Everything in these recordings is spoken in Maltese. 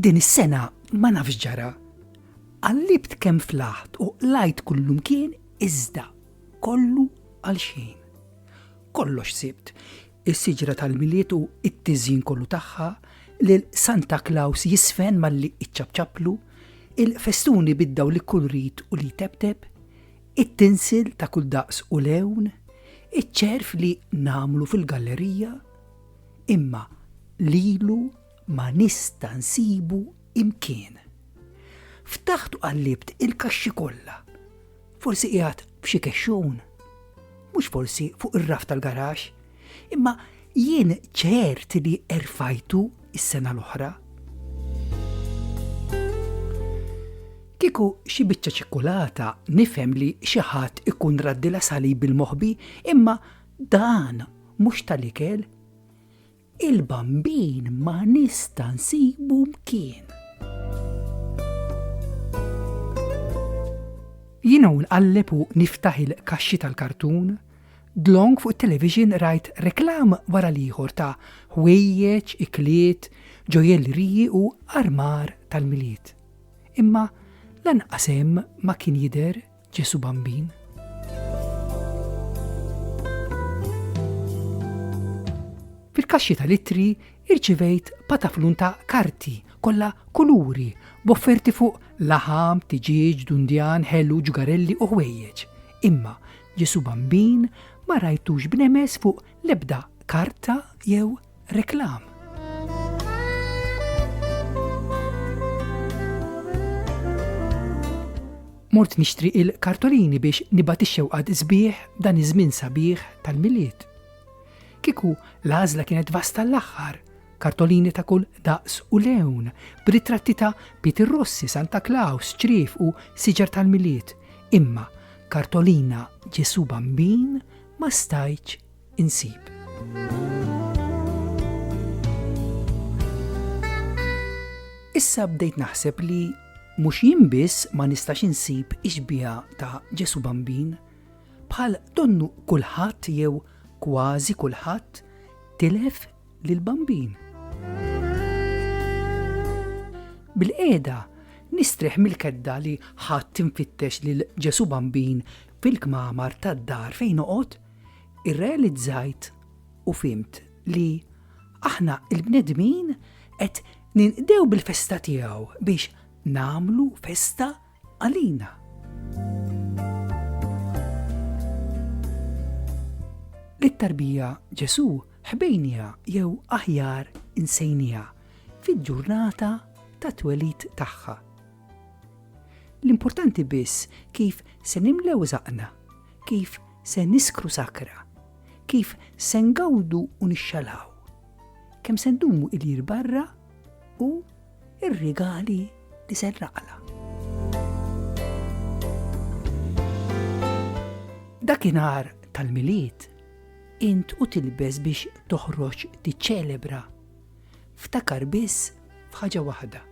Din is-sena ma nafx ġara. Għallibt kemm flaħt u lajt kullum kien iżda kollu għal xejn. Kollox sibt, is-siġra tal-Milied u t-tiżjin kollu tagħha, lil Santa Klaws jiżfen malli iċċapċaplu, il-festuni bid-dawl li kull rid u li jtebteb, it-tinsil ta' kull daqs u lewn, iċ-ċerf li nagħmlu fil-gallerija, imma lilu, ma nista' nsibu imkien. Ftaħt u qallibt il-kaxxi kollha. Forsi qiegħed f'xi kexxun. Mhux forsi fuq ir-raf tal-garax, imma jien ċert li erfajtu s-sena l-oħra. Kieku xi biċċa ċikkulata nifhem li xi ħadd ikun raddilha salib bil-moħbi, imma dan mhux tal-ikel. Il-bambin ma nista' nsibu mkien. Jiena u nqalleb u niftaħ il-kaxxi tal-kartun, dlonk fuq it-televixin rajt reklam wara l-ieħor ta' ħwejjeġ, ikliet, ġojelliriji u armar tal-Milied. Imma lanqas hemm ma kien jidher Ġesu Bambin. Fil-kaxxi tal-ittri irċivejt pataflun ta' karti kollha kuluri b'offerti fuq laħam, tiġieġ, dundjan, ħelu, ġugarelli u ħwejjeġ. Imma Ġesu Bambin ma rajtux b'nemes fuq l-ebda karta jew Reklam. Mort nixtri il-kartolini biex nibgħat ix-xewqat sbieħ dan iż-żmien sabiħ tal-milied. Kiku l-għażla kienet vasta l-aħħar, kartolini ta' kull daqs u lewn, b'ritratti ta' Peter Rossi, Santa Claus, ċrif u siġar tal-milied. Imma kartolina Ġesu Bambin ma stajċ insib. Issa bdejt naħseb li mhux jien biss ma nistax insib ixbiha ta' Ġesu Bambin, bħal donnu kulħadd jew kważi kulħadd tilef lil Bambin. Bil-qeda nistreħ mill-kedda li ħadd tinfittex lil Ġesu Bambin fil-kmamar tad-dar fejn noqgħod irrealizzajt u fimt li aħna il-bnedmin qed ninqdew bil-festa tiegħu biex namlu festa għalina. It-tarbija Ġesu ħbejnija jew aħjar insejnija fil-ġurnata ta' twelid tagħha. L-importanti biss kif se nimlew zaqna Kif se niskru sakra? Kif se ngawdu u nixxalhaw? Kemm se ndumu ilir barra u r-rigali li se nraqla? Dakinhar tal-Milied int u tilbes biex toħroġ tiċċelebra. Ftakar biss f'ħaġa waħda.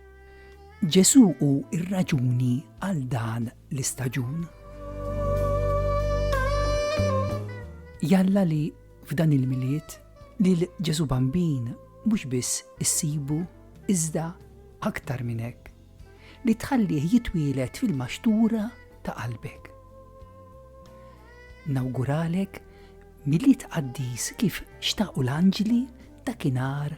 Ġesù hu r-raġuni għal dan l-istaġun. Jalla li f'dan il-milied li l-Ġesu Bambin mhux biss issibu iżda aktar minn hekk li tħallih jitwielet fil-maxtura ta' qalbek. Nawguralek milli tqaddis kif xtaqu l-anġli ta' kinar